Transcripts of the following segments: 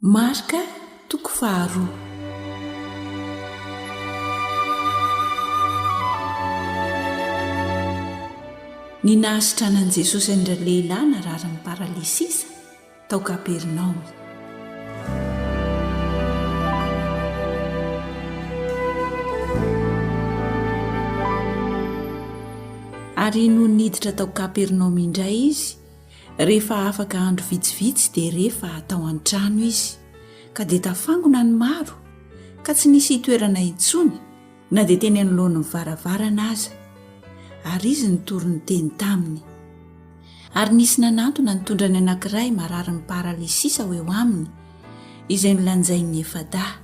Marc toko faharoa. Ny nahasitranan'i Jesosy an-dralehilahy nararin'ny paralysisa tao Kapernaomy. Ary nony niditra tao Kapernaomy indray izy, Rehefa afaka andro vitsivitsy dia re fa tao an-trano izy, ka dia tafangona ny maro ka tsy nisy hitoerana intsony na dia teny anoloan'ny varavarana aza, ary izy nitory niteny taminy. Ary nisy nanantona nitondra ny anankiray mararin'ny paralysisa ho eo aminy, izay nolanjain'ny efa-dahy,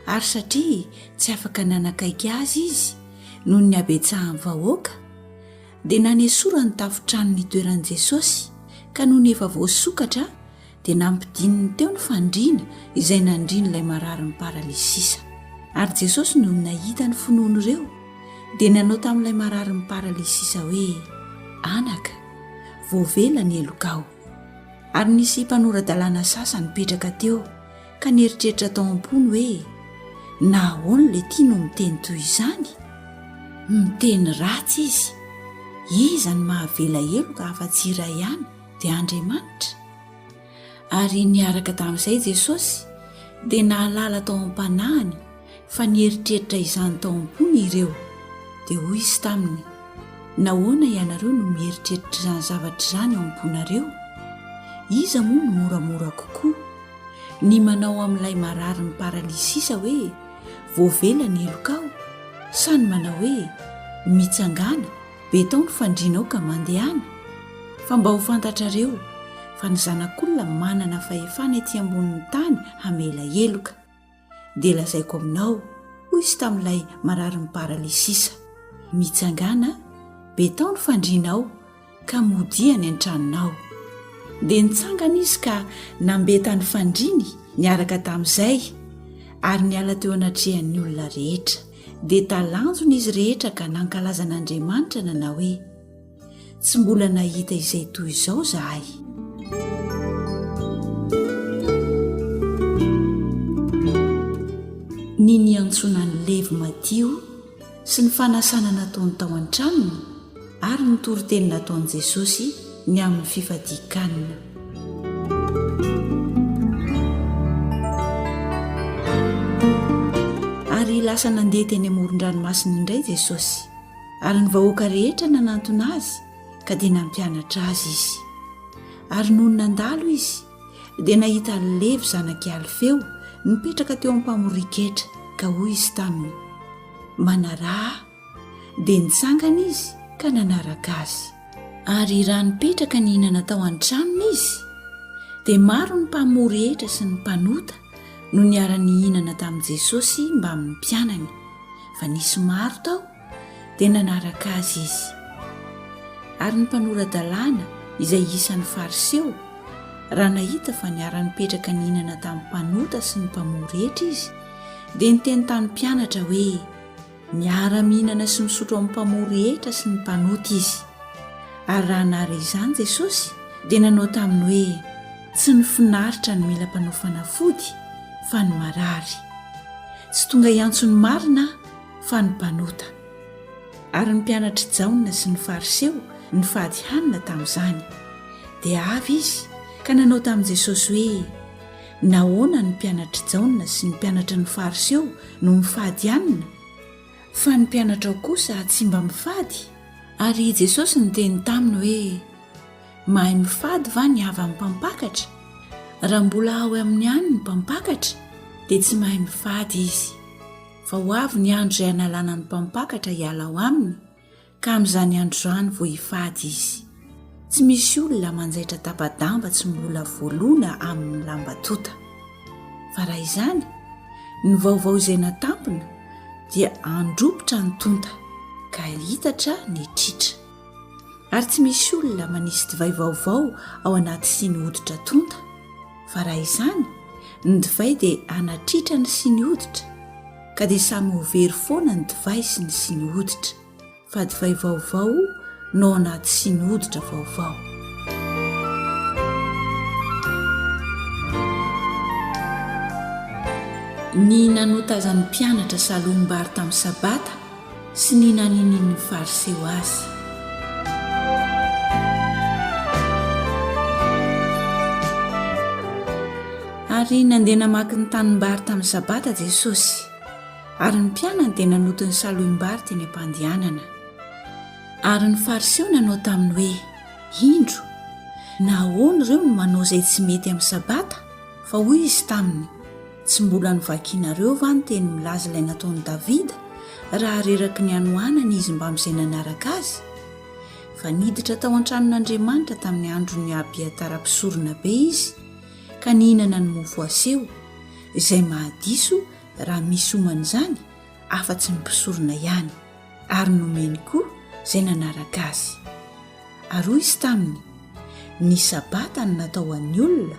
ary satria tsy afaka nanakaiky azy izy noho ny habetsahan'ny vahoaka, Dia nanesorany tafon-trano nitoeran'i Jesosy, ka nony efa voasokatra dia nampidininy teo ny fandriana izay nandrian'ilay mararin'ny paralysisa. Ary Jesosy nony nahita ny finoan'ireo dia nanao tamin'ilay mararin'ny paralysisa hoe, Anaka, voavela ny helokao. Ary nisy mpanora-dalàna sasa nipetraka teo ka nieritreritra tao am-pony hoe na ahoana ilay tia no miteny toy izany? Miteny ratsy izy. Iza no mahavela heloka afa-tsy iray ihany, dia Andriamanitra? Ary niaraka tamin'izay Jesosy dia nahalala tao am-panahiny fa nieritreritra izany tao am-pony ireo, dia hoy izy taminy, Nahoana ianareo no mieritreritra izany zavatra izany ao am-ponareo? Iza moa no moramora kokoa, ny manao amin'ilay marary miparalysisa hoe, Voavela ny helokao, sa ny manao hoe, Mitsangàna, be tao ny fandrianao ka mandehana? Fa mba ho fantatrareo fa ny Zanak'Olona manana fahefana ety ambonin'ny tany hamela heloka. dia lazaiko aminao, hoy izy tamin'ilay mararin'ny paralysisa, Mitsangàna, betao ny fandrianao, ka modia any an-tranonao. Dia nitsangana izy ka nambeta ny fandriany niaraka tamin'izay, ary niala teo anatrehan'ny olona rehetra. Dia talanjona izy rehetra ka nankalaza an'Andriamanitra nanao hoe. Tsy mbola nahita izay toy izao zahay. Ny niantsoana ny levy madio sy ny fanasana nataony tao an-tranony ary ny toriteny nataon'i Jesosy ny amin'ny fifadian-kanina. Ary lasa nandeha teny amoron-dranomasina indray Jesosy. Ary ny vahoaka rehetra nanantona azy ka dia nampianatra azy izy. Ary nony nandalo izy dia nahita Levy zanak'i Alfeo nipetraka teo am-pamorian-ketra ka hoy izy taminy, Manaraha ahy. Dia nitsangana izy ka nanaraka azy. Ary raha nipetraka nihinana tao an-tranony izy, dia maro ny mpamory hetra sy ny mpanota no niara-nihinana tamin'i Jesosy mbamin'ny mpianany. fa nisy maro tao dia nanaraka azy izy ary ny mpanora-dalàna izay isan'ny fariseo raha nahita fa niara-nipetraka ny hinana tamin'ny mpanota sy ny mpamoa rehetra izy dia niteny tamin'ny mpianatra hoe miara-mihinana sy misotro amin'ny mpamoa rehetra sy ny mpanota izy ary raha nary izany jesosy dia nanao tamin'ny hoe tsy ny finaritra ny mila mpanao fanafody fa ny marary Tsy tonga hiantso ny marina fa ny mpanota. Ary ny mpianatr'i Jaona sy ny Fariseo nifady hanina tamin'izany. Dia avy izy ka nanao tamin'i Jesosy hoe, Nahoana ny mpianatr'i Jaona sy ny mpianatry ny Fariseo no mifady hanina, fa ny mpianatrao kosa tsy mba mifady? Ary Jesosy niteny taminy hoe, Mahay mifady va ny havan'ny mpampakatra? Raha mbola ao amin'ny ihany ny mpampakatra, dia tsy mahay mifady izy. Fa ho avy ny andro izay hanalana ny mpampakatra hiala ao aminy, ka amin'izany andro izany vao hifady izy. Tsy misy olona manjaitra tapa-damba tsy mbola voaloana amin'ny lamba tonta. Fa raha izany, ny vaovao izay natampina dia handropotra ny tonta, ka hihitatra ny tritra. Ary tsy misy olona manisy divay vaovao ao anaty siny hoditra tonta, fa raha izany, ny divay dia hanatritra ny siny hoditra, ka dia samy ho very foana ny divay sy ny siny hoditra, fa divay vaovao no ao anaty siny hoditra vaovao. Ny nanotazan'ny mpianatra salom-bary tamin'ny sabata, sy ny naninian'ny Fariseo azy. Ary nandeha namaky ny tanimbary tamin'ny Sabata Jesosy, ary ny mpianany dia nanoto ny salohim-bary teny am-pandehanana. Ary ny Fariseo nanao taminy hoe, Indro, nahoana ireo no manao izay tsy mety amin'ny Sabata? Fa hoy izy taminy, Tsy mbola novakianareo va ny teny milaza ilay nataon'i Davida raha reraky ny hanoanana izy mbamin'izay nanaraka azy? Fa niditra tao an-tranon'Andriamanitra tamin'ny andron'i Abiatara mpisoronabe izy, ka nihinana ny mofo aseho, izay mahadiso raha misy oman'izany afa-tsy ny mpisorona ihany, ary nomeny koa izay nanaraka azy. Ary hoy izy taminy, Ny Sabata no natao ho an'ny olona,